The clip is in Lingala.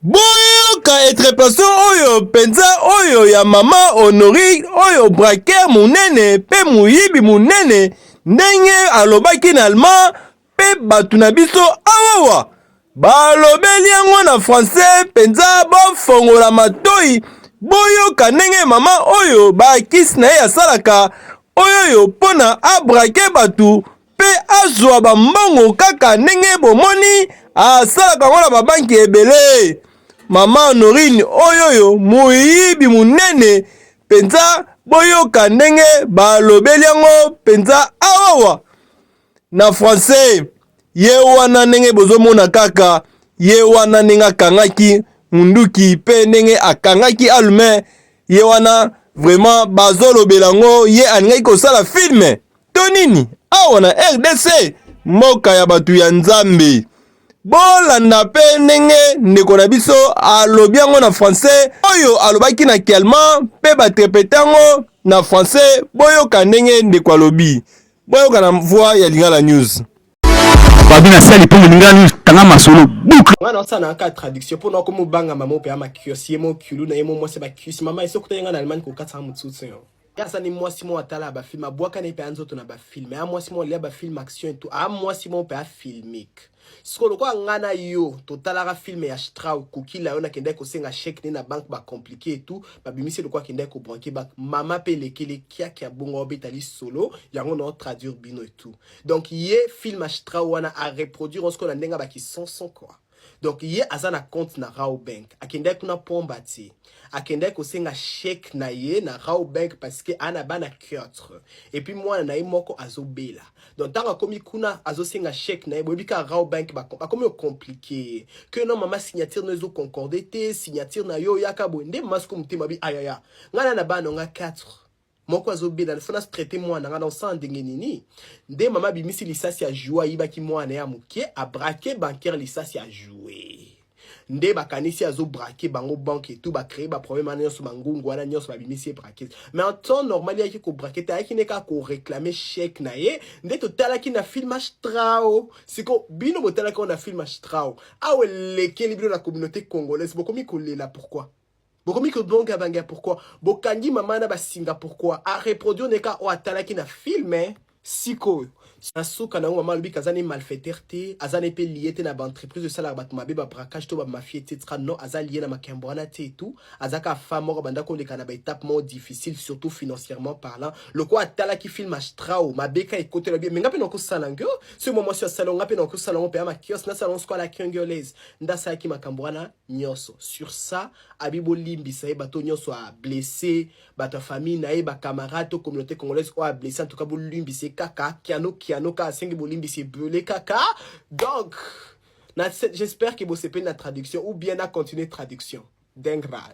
Boyoka etrepation oyo penza oyo ya mama Honorine oyo braquer munene pe muyibi munene ndenge alobaki na allemand pe batu na biso awawa balobeli yango na français penza bofongola matoyi boyoka ndenge mama oyo ba kisi na ye asalaka oyoyo pona abrake batu mpe azwa bambongo kaka ndenge bomoni asalaka yango na babanki ebele mama honorine oyoyo moyibi monene mpenza boyoka ndenge balobeli yango mpenza awawa na français ye wana ndenge bozomona kaka ye wana ndenge akangaki munduki mpe ndenge akangaki alume ye wana vraiment bazolobela yango ye alingaki kosala filme to nini awa na rdc mboka ya bato ya nzambe bolanda mpe ndenge ndeko na biso alobi yango na français oyo alobaki na kialma mpe batrepete yango na français boyoka ndenge ndeko alobi boyoka na voix ya lingala news babi na sali mpo lingala news tanga masolo boucle nga nasala naka traduction mpo nako mobanga mama ope ya makios ye mo kiulu na ye mo mwasi bakius mama esokuta ye nga na allemagne kokatisa motsutsu yo Asa ni mwasi mo atala ba film abwaka ne pe anzoto na ba film ya mwasi mo lia ba film action et tout a mwasi mo pe a filmique siko lokola nga na yo totalaka film ya strau kukila yo nakendaki kosenga chèque ne na banque ba compliqué et tout babimisi lokola akendaki kobranke banque mama pe elekeli kiaki ya bongo obeta lisolo yango na traduire bino et tout donc ye film ya strau wana a reproduire osiko na ndenge ya bakisonson quoi donc ye aza na compte na Rao Bank, akendaki kuna pomba te, akendaki kosenga chèque na ye na Rao Bank parce que ana bana quatre et puis mwana na ye moko azobela. Donc ntango akomi kuna azosenga chèque na ye, boyebi kaka Rao Bank bakomi ocomplike ye que non mama signature no ezo concorde te, signature na yo oyaka boye nde mama siko motema bi ayaya ngai na bana nga quatre moko azobela il faut na traite mwana nga na osala ndenge nini nde mama abimisi lisasi ya joue ayibaki mwana ya moke abrake bancaire lisasi ya joue nde bakanisi azobrake bango banke etu bacree baproblème wana nyonso bangungu wana nyonso babimisi ye braquete mais en temps normal yaki kobrake te ayaki nde kaka koreclame chèque na ye nde totalaki na film astrao siko bino botalaki yango na film astrao awa elekeli bino na communauté congolaise bokomi kolela pourquoi bokomi kobonga bange ya pourquoi bokangi mama na basinga pourquoi areproduire neka oyo atalaki na filme sikoyo na suka na yango mama alobi kaza ne malfaiteur te aza ne mpe lie te na baentreprise esalaka bato mabe babracage to bamafie etc non aza lie na makembo wana te etout azaka femme moko abanda koleka na baetape moko difficile surtout financièrement parlant lokola atalaki film astrao mabeka ekotela bie me nga mpe nakosala ngio soki mwa mwasi asala nga mpe nakosala yango mpe ya makios nasala yango sikoyo la kiongolaise nde asalaki makambo wana nionso sur ça abi bolimbisa ye bato nionso a blesse bato ya famille na ye ba camarade to communauté congolaise oyo a blesse en tout cas bolimbisa ye kaka kiano kiano kaka asengi bolimbisa ebele kaka donc j'espère que bosepeli na traduction ou bien na continuer traduction dengra